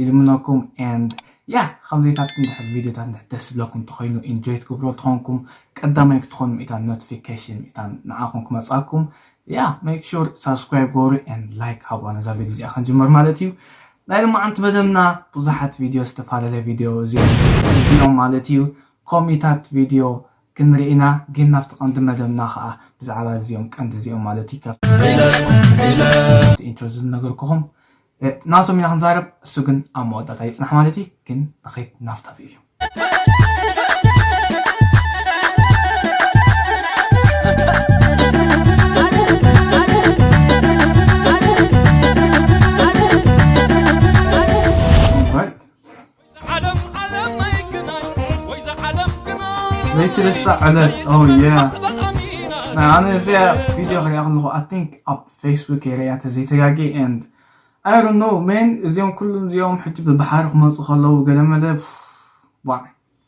ይልምነኩም and yeah ከምዚታት እንድሕር ቪድዮታት እንድሕር ደስ ዝብለኩም እንተኾይኑ ኢንጆይ ትገብሮ ትኾንኩም ቀዳማይ ክትኾኑ ምእታ ኖቲፊኬሽን ምእታ ንዓኹም ክመጻኩም ያ ሜክ ሹር ሳብስክራይብ ገብሩ and ላይክ ሃቡዋ ነዛ ቪድዮ እዚኣ ክንጅምር ማለት እዩ ናይ ልማዓንቲ መደብና ብዙሓት ቪድዮ ዝተፈላለየ ቪድዮ እዚኦም ማለት እዩ ኮሚታት ቪድዮ ክንርኢና ግን ናብቲ ቀንዲ መደብና ከዓ ብዛዕባ እዚኦም ቀንዲ እዚኦም ማለት እዩ ኢንትሮ ዝነገርኩኹም ናቶም ኢና ክንዛረብ እሱ ግን ኣብ መወዳእታ ይጽናሕ ማለት እዩ ግን ንኸይት ናፍታፍ እዩ ዘይትርሳዕ ዕለት ኦየ ናይ ኣነ እዚኣ ቪድዮ ክሪኣ ከለኹ ኣይ ቲንክ ኣብ ፌስቡክ እየ ሪኣ ተዘይተጋጊ ኤንድ ኣይ ዶንት ኖ ሜን እዚኦም ኩሎም እዚኦም ሕጂ ብባሕሪ ክመፁ ከለዉ ገለመለ ዋይ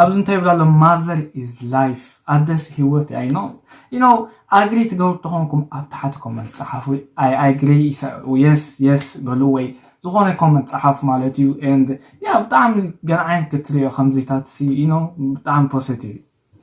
ኣብዚ እንታይ ይብል ኣሎ ማዘር ኢዝ ላይፍ ኣደስ ሂወት እያ ኢኖ ኢኖ ኣግሪ ትገብሩ ተኾንኩም ኣብ ታሕቲ ኮመንት ጸሓፉ ኣይ ኣግሪ የስ የስ በሉ ወይ ዝኾነ ኮመንት ጸሓፉ ማለት እዩ ን ያ ብጣዕሚ ገንዓይን ክትሪኦ ከምዚታት ሲ ኢኖ ብጣዕሚ ፖዘቲቭ እዩ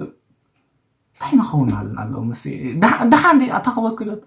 እንታይ ንኸውን ኣለና ኣሎ ምስ ደሓን ዲ ኣታ ክበክለት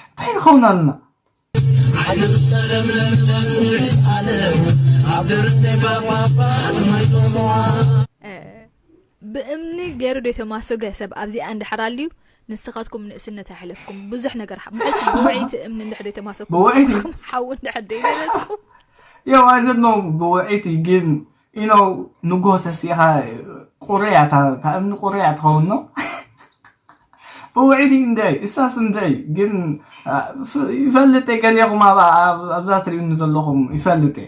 እንታይ ንኸውን ኣለና ብእምኒ ገሩ ዶ የተማሶገ ሰብ ኣብዚኣ እንድሕር ኣልዩ ንስካትኩም ንእስነት ኣይሕለፍኩም ብዙሕ ነገር ሓ- ብውዕይቲ እምኒ እንድሕር ዶ የተማሶኩም ብውዕይቲ? ንስኩም ሓዊ እንድሕር ዶ ይገለጽኩም ያው ኣይ ዶንት ኖ ብውዒቲ ግን ኢኖ ንጎ ተሲኢኻ ቁርያ እታ- ካብ እምኒ ቁርያ ትኸውን ኖ ብውዒቲ እንደይ እሳስ እንደይ ግን እ፣ ፍ- ይፈልጥ እየ ገሊኹም ኣብ- ኣብ- ኣብዛ ትሪኡኒ ዘለኹም ይፈልጥ እየ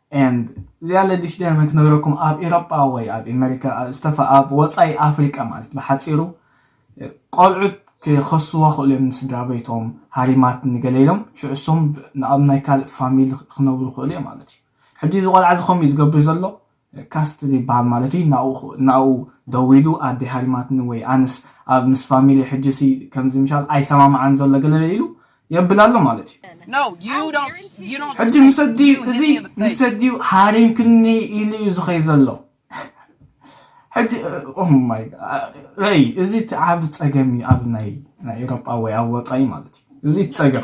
and እዚኣ ለዲሽ ደርመ ክነግረኩም ኣብ ኤሮጳ ወይ ኣብ ኤመሪካ ዝተፋ ኣብ ወጻኢ ኣፍሪቃ ማለት ብሓጺሩ ቆልዑት ክኸስዋ ክእሉ እዮም ንስድራ ቤቶም ሃሪማት ንገለ ኢሎም ሽዑ እሶም ንኣብ ናይ ካልእ ፋሚሊ ክነብሩ ክእሉ እዮም ማለት እዩ ሕጂ እዚ ቆልዓ እዚ ከምኡ ዝገብር ዘሎ ካስትል ይበሃል ማለት እዩ ናብኡ ደዊሉ ኣደ ሃሪማትኒ ወይ ኣነስ ኣብ ምስ ፋሚሊ ሕጂሲ ከምዚ ምሻል ኣይሰማምዓን ዘሎ ገለለ ኢሉ የብል ኣሎ ማለት እዩ ሕጂ ምስ ኣዲኡ እዚ ምስ ኣዲኡ ሃሪምክኒ ኢሉ እዩ ዝኸይ ዘሎ ሕጂ ኦማይ ረይ እዚ እቲ ዓብ ጸገም እዩ ኣብ ናይ ናይ ኤሮጳ ወይ ኣብ ወጻኢ ማለት እዩ እዚ ጸገም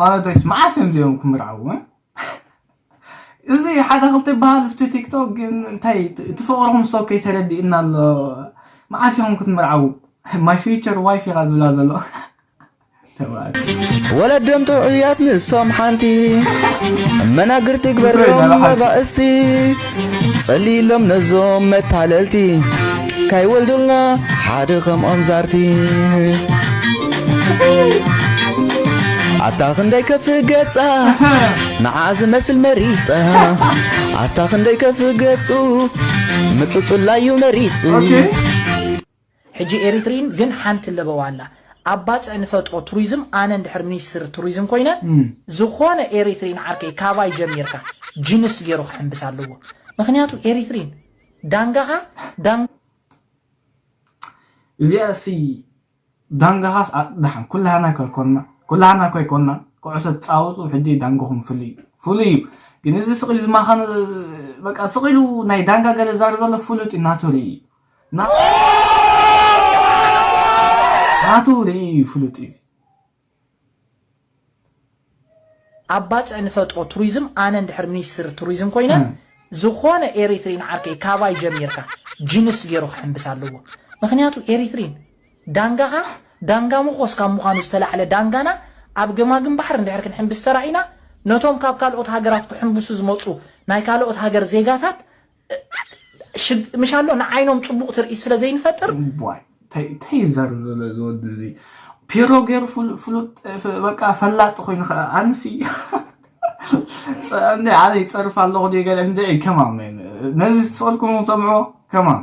ማለተይስ መዓስ እዮም እዚኦም ክምርዓው እ እዚ ሓደ ክልተ ይበሃል ብቲ ቲክቶክ ግን እንታይ እቲ ፍቕርኹም ሰው ከይተረድእና ኣሎ መዓስ ኢኹም ክትምርዓው ማይ ፊቸር ዋይፍ ኢኻ ዝብላ ዘሎ ወለዶም ጥዑያት ንሶም ሓንቲ መናግርቲ ግበርም መባእስቲ ጸልይሎም ነዞም መታለልቲ ካይወልዱልና ሓደ ከምኦም ዛርቲ ኣታ ክንደይ ከፍ ገጻ ንዓ ዝመስል መሪጻ ኣታ ክንደይ ከፍ ገጹ ምጹጹላዩ መሪጹ ሕጂ ኤሪትሪን ግን ሓንቲ ለበዋ ኣላ ኣብ ባጽዕ ንፈጥሮ ቱሪዝም ኣነ እንድሕር ሚኒስትር ቱሪዝም ኮይነ ዝኾነ ኤሪትሪን ዓርከይ ካባይ ጀሚርካ ጅንስ ጌሩ ክሕምብስ ኣለዎ ምኽንያቱ ኤሪትሪን ዳንጋኻ እዚኣሲ ዳንጋኻስ ኣጽዳሓ ኩላህና ከይኮና ኩላህና ከይኮና ኩዕሶ ትጻወቱ ሕጂ ዳንጋኹም ፍሉይ እዩ ፍሉይ እዩ ግን እዚ ስቂሉ ዝማኻነ በቃ ስቂሉ ናይ ዳንጋ ገለ ዛርበለ ፍሉጥ እዩ ናቱ ርኢ ናቱ ርእይ እዩ ፍሉጥ እዩ። ኣብ ባጽዕ ንፈጥሮ ቱሪዝም ኣነ እንድሕር ሚኒስትር ቱሪዝም ኮይነ ዝኾነ ኤሪትሪን ዓርከይ ካባይ ጀሚርካ ጅንስ ጌሩ ክሕምብስ ኣለዎ ምኽንያቱ ኤሪትሪን ዳንጋኻ ዳንጋ ምኾስ ካብ ምዃኑ ዝተላዕለ ዳንጋና ኣብ ገማግም ባሕሪ እንድሕር ክንሕምብስ ተራኢና ነቶም ካብ ካልኦት ሃገራት ክሕምብሱ ዝመጹ ናይ ካልኦት ሃገር ዜጋታት ምሽ ኣሎ ንዓይኖም ፅቡቕ ትርኢት ስለ ዘይንፈጥር እንታይ ዘር ዘሎ ዝወዲ እዚ ፒሮ ገይሩ ፍሉጥ በቃ ፈላጢ ኮይኑ ከዓ ኣንሲ ኣነ ይፀርፍ ኣለኹ ገለ እንድዒ ከማም ነዚ ዝፅልኩም ሰምዑ ከማም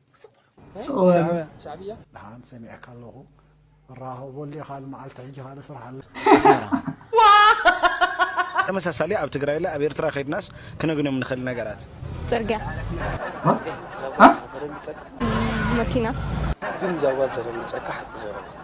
ደሓን ሰሚዐካ ኣለኹ ራኸበሉ ኢኻ ልመዓልቲ ሕጂ ካልእ ስራሕ ኣሎ ተመሳሳሊ ኣብ ትግራይ ለ ኣብ ኤርትራ ከድናስ ክነግኖም ንኽእል ነገራት ፅርግያ መኪና ግን ዛጓል ተተምፀካ ሓቂ ዘረባ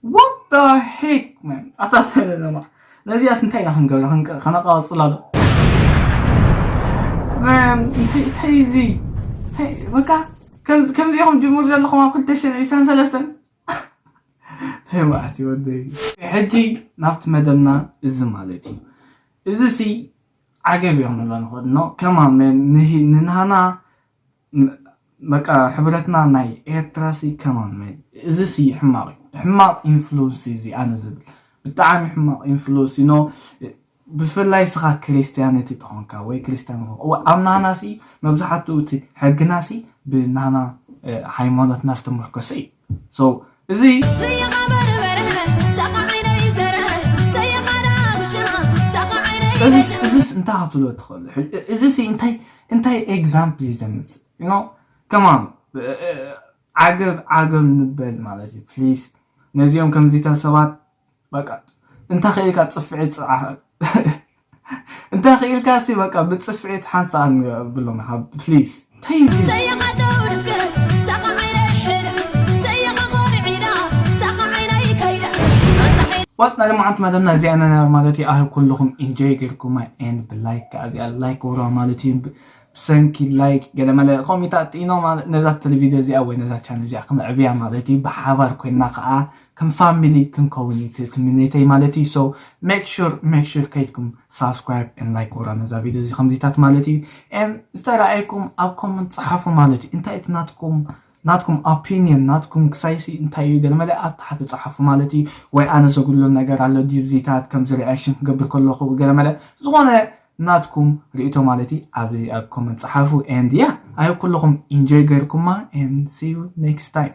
What the heck man ኣታ ተለለማ ነዚኣስ እንታይ ኢና ክንገብራ ከነቃፅላ ዶ man እንታይ እንታይ እዚ በቃ ከምዚኹም ጅሙር ዘለኹም ኣብ ክልተ ሽሕ ዒስራን ሰለስተን እንታይ መዓስ ይወደይ ሕጂ ናብቲ መደብና እዚ ማለት እዩ እዚ ሲ ዓገብ እዮም ንብሎ ንኽእል ኖ ከማ መን ንሃና በቃ ሕብረትና ናይ ኤርትራሲ ከማን መን እዚሲ ሕማቅ እዩ ሕማቅ ኢንፍሉንሲ እዚ ኣነ ዝብል ብጣዕሚ ሕማቅ ኢንፍሉንሲ ኖ ብፍላይ ስኻ ክርስትያነቲ ተኾንካ ወይ ክርስትያን ኣብ ናህናሲ መብዛሕትኡ እቲ ሕግናሲ ብናህና ሃይማኖትና ዝተመርኮሰ እዩ so እዚ እዝስ እንታይ ክትብሎ ትኽእል እዚ እንታይ እንታይ ኤግዛምፕል እዩ ዘምፅእ ኖ ከማን ዓገብ ዓገብ ንበል ማለት እዩ ፕሊስ ነዚኦም ከምዚታት ሰባት በቃ እንታይ ክኢልካ ጽፍዒት ጽዓሕ እንታይ ክኢልካ ሲ በቃ ብጽፍዒት ሓንሳኣ ንብሎም ሓብ ፕሊስ ዋጥ ናይ ልምዓት መደብና እዚኣ ነና ማለት እዩ ኣህ ኩልኹም ኢንጆይ ጌርኩማ ኤን ብላይክ ከዓ እዚኣ ላይክ ወራ ማለት እዩ ብሰንኪ ላይክ ገለመለ ከምኡ ተኣጥኢኖ ማለት ነዛ ቴሌቪድዮ እዚኣ ወይ ነዛ ቻነል እዚኣ ክነዕብያ ማለት እዩ ብሓባር ኮይና ከዓ ከም ፋሚሊ ክንከውን እዩ እቲ ትምኔተይ ማለት እዩ ሶ ሜክ ሹር ሜክ ሹር ከይድኩም ሳብስክራይብ ን ላይክ ወራ ነዛ ቪድዮ እዚ ከምዚታት ማለት እዩ ን ዝተረኣየኩም ኣብ ኮመንት ፀሓፉ ማለት እዩ እንታይ እቲ ናትኩም ናትኩም ኦፒኒየን ናትኩም ክሳይሲ እንታይ እዩ ገለመለ ኣብ ታሕቲ ፀሓፉ ማለት እዩ ወይ ኣነ ዘጉድሎ ነገር ኣሎ ዲብዚታት ከምዚ ሪኣክሽን ክገብር ከለኹ ገለመለ ዝኾነ ናትኩም ርእቶ ማለት እዩ ኣብ ኣብ ኮመንት ፀሓፉ ኤንድ ያ ኣይ ኩለኹም ኢንጆይ ገይርኩማ ኤንድ ሲ ዩ ኔክስት ታይም